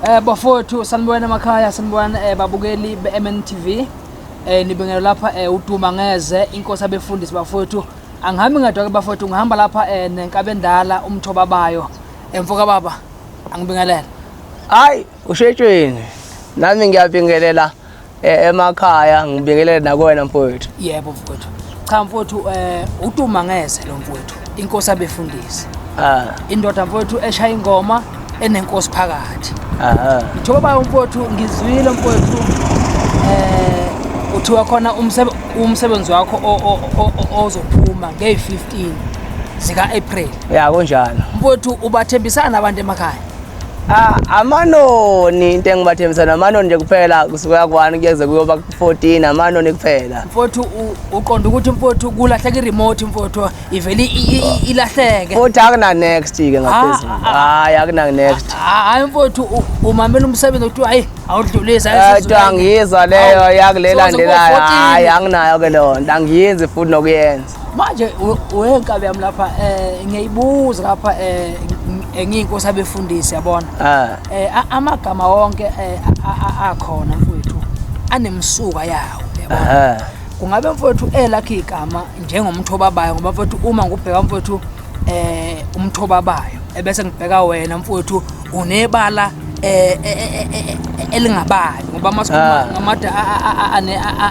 Eh bafowethu sanibona emakhaya sanibona eh, babukeli beMNTV eh nibingelwe lapha eh uduma ngeze inkosi abefundisi bafowethu angihambi ngadwa ke bafowethu ngihamba lapha eh nenkabendala umthoba bayo emfoka baba angibingelele Hayi, ushetshweni. Nami ngiyabingelela eh, emakhaya ngibingelele nakwena mfowethu yebo mfowethu cha mfowethu um eh, utuma ngeze lo mfowethu inkosi abefundisi ah. indoda mfowethu eshaya ingoma enenkosi phakathi njengoba umfowethu ngizwile mfowethu um uthiwa khona umsebenzi wakho ozophuma ngey-fifteen zika-april ya kunjalo mfowethu ubathembisana abantu emakhaya Ah, amanoni into engibathembisa namanoni nje kuphela kusuka kwani kuyeze kuyoba ku-14 amanoni kuphela mfowethu u- uqonda ukuthi mfowethu kulahleka i-remote mfowethu ivele i- i- i- ilahleke futhi akunanext ke ngaphezulu Ah, hhayi akunanext Ha- hayi mfowethu u- umamela umsebenzi kuthiwa hayi awudlulisi hayi kodwa sizolala. angiyizwa leyo Awu, yakulelandelayo soze kuba 14. hhayi anginayo ke leyo nto angiyenzi futhi nokuyenza manje wenkabi yami lapha um ngiyayibuza lapha um engiyinkosi abefundisi yabona ah. eh amagama wonke eh, akhona mfowethu anemsuka yawo yabona kungabe mfowethu elakhe igama njengomthoba bayo ngoba mfowethu uma ngubheka mfowethu eh umthoba bayo ebese ngibheka wena mfowethu unebala eh, eh, eh elingabayo ngoba masikhuluma ah. ngamada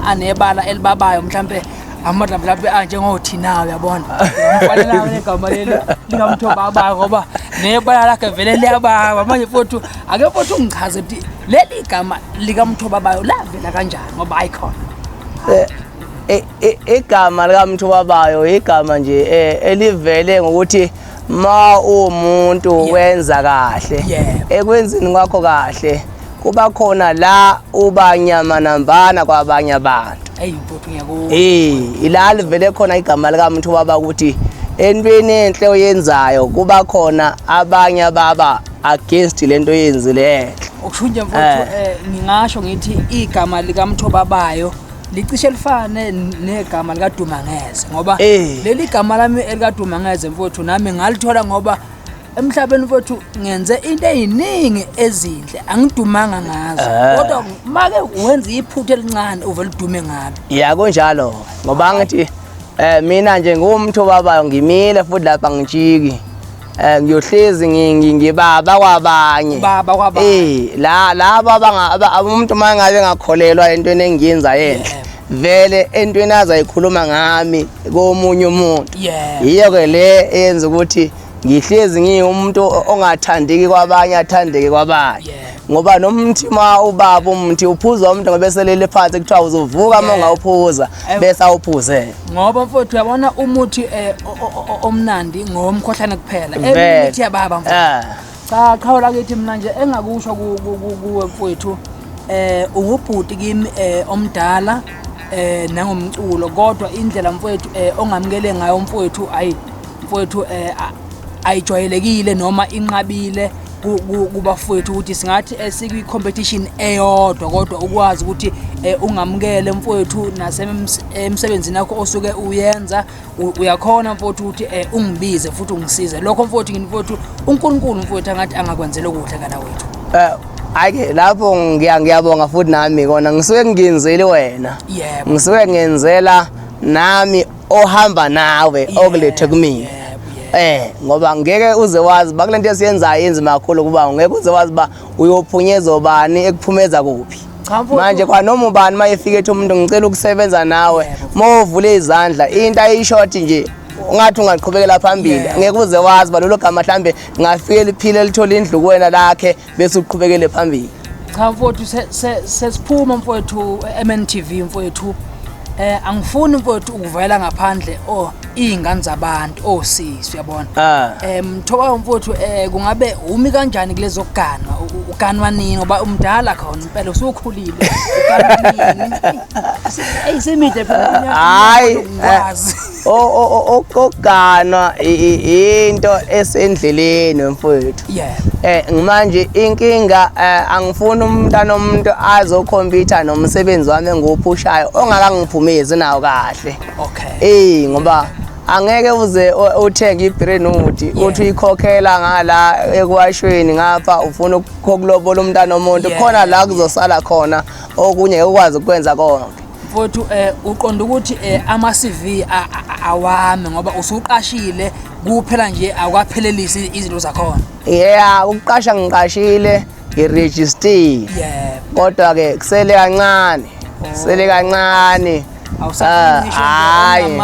anebala elibabayo mhlambe amadlablabhi anjengothinayo uyabona ngamfanelayo negama leli lingamthoba abaka ngoba nebala lakhe vele liyababa manje futhi ake futhi ungichaze ukuthi leli gama likamthoba abayo lavela kanjani ngoba ayikhona eh, eh, eh, igama likamthoba abayo igama nje elivele ngokuthi ma umuntu wenza kahle ekwenzini kwakho kahle kuba khona la ubanyamanambana kwabanye abantu eh ila livele khona igama lika muntu baba ukuthi entweni enhle oyenzayo kuba khona abanye baba against lento oyenzileyo okusho nje mfowethu eh. Eh, ngingasho ngithi igama lika mthobabayo licishe lifane negama likadumangeze ngoba eh. leli gama lami elikadumangeze mfowethu nami ngalithola ngoba emhlabeni kwethu ngenze into eyiningi ezinhle angidumanga ngazo eh. kodwa make wenza iphutha elincane uvele udume ngalo ya kunjalo ngoba ngithi eh mina nje ngumtho babayo ngimile futhi lapha ngijiki eh ngiyohlezi ngibaba kwabanye baba kwabanye eh la laba abanga umuntu mangabe ngakholelwa entweni engiyenza yenhle vele entweni azayikhuluma ngami komunye umuntu yiyo ke le eyenza ukuthi yeah. ngihlezi ngiwumuntu ongathandeki kwabanye athandeke kwabanye ngoba noma umthi ma ubaba umthi uphuza umuntu ngoba eselele phansi kuthiwa uzovuka uma ungawuphuza bese awuphuze ngoba mfowethu uyabona umuthi eh, omnandi ngomkhohlane kuphela emithi yababa mfowethu ah. cha qhawe lakithi mina nje engakusho kuwe mfowethu eh ungubhuti kimi eh, omdala eh nangomculo kodwa indlela mfowethu eh ongamukele ngayo mfowethu ayi mfowethu um eh, ayijwayelekile noma inqabile kubafowethu ukuthi singathi eh, sikwi-competition eyodwa kodwa ukwazi ukuthi eh, ungamukele mfowethu nasemsebenzini yakho osuke uyenza uyakhona mfowethu ukuthi eh, ungibize futhi ungisize lokho mfowethu ngini mfowethu unkulunkulu mfowethu angathi angakwenzela okuhle kana wethu Ayike lapho ngiya ngiyabonga futhi nami kona ngisuke ngingenzeli wena. Yebo. Ngisuke ngenzela nami ohamba nawe okulethe kumina eh ngoba ngeke uze wazi ba kulento esiyenzayo inzima kakhulu kuba ngeke uze wazi ba uyophunyeza obani ekuphumeza kuphi manje kwanoma ubani uma efika ethi umuntu ngicela ukusebenza nawe uma uvule izandla into ayishort nje ungathi ungaqhubekela phambili ngeke uze wazi balolo gama mhlambe ngafike liphile lithola indlu kuwena lakhe bese uqhubekele phambili cha mfowethu sesiphuma mfowethu MNTV mfowethu eh angifuni mfowethu ukuvela ngaphandle oh izingane zabantu oh sisi uyabona ah. eh mthoba umfowethu eh kungabe umi kanjani kulezo kuganwa uganwa nini ngoba umdala khona impela usukhulile uganwa nini ayisemide phela hayi eh. ngwazi okuganwa into esendleleni mfowethu eh manje inkinga eh, angifuni umntana omuntu azokhompyutha nomsebenzi wami engiwuphushayo ongakangiphumezi nawo kahle okay eh ngoba angeke uze uthenge ibrenuti uthi uyikhokhela ngala ekwashweni ngapha ufuna ukulobola umntana omuntu khona la kuzosala khona okunye ukwazi ukwenza konke Mfowethu um uqonda ukuthi um ama-CV awami ngoba usuqashile kuphela nje awukaphelelisi izinto zakhona. Yeah, ukuqasha ngiqashile ngiregistiwe. Yeah. Kodwa ke kusele kancane. Kusele oh. kancane. hayi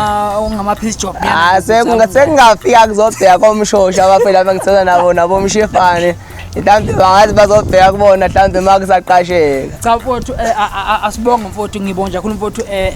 ah, sekungafika kuzobheka komshosha abafela bengisela nabo nabomshefane mhlawumbe bangathi bazobheka kubona mhlawumbe uma kusaqasheka cha mfowethu eh, asibonge mfowethu ngibonga kakhulu mfowethu eh,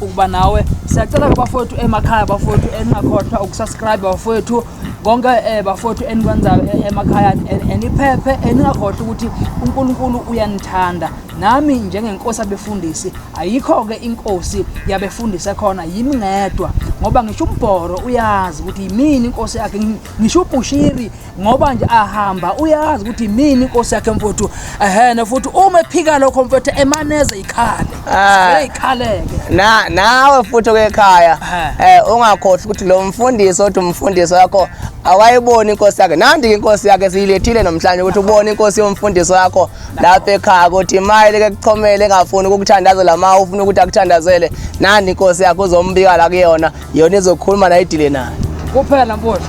ukuba nawe siyacela kubafowethu emakhaya bafowethu eningakhohlwa ukusubscribe bafowethu konke eh, bafowethu enikwenzayo emakhaya eniphephe eningakhohlwa ukuthi unkulunkulu uyanithanda nami njengenkosi abefundisi ayikho-ke inkosi yabefundisi ekhona yimi ngedwa ngoba ngisho umbhoro uyazi ukuthi yimini inkosi yakhe ngisho ubushiri ngoba nje ahamba uyazi ukuthi mini inkosi yakhe mfowethu ehena futhi uma ephika lokho mfowethu emaneze ikhale ah. ikhaleke na nawe futhi kwekhaya eh ungakhohlwa ukuthi lo mfundisi othi umfundisi wakho awayiboni inkosi yakhe nandi inkosi yakhe siyilethile nomhlanje ukuthi ubone inkosi yomfundisi wakho lapha ekhaya ukuthi mayele ke kuchomele engafuni ukukuthandazela ma ufuna ukuthi akuthandazele nandi inkosi yakho uzombika la kuyona Yona izokhuluma naye idile naye. Kuphela mfowethu.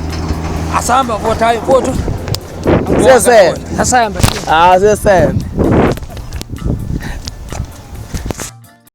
Asihamba mfowethu, hayi mfowethu. Sese. Asihamba. Ah, sese.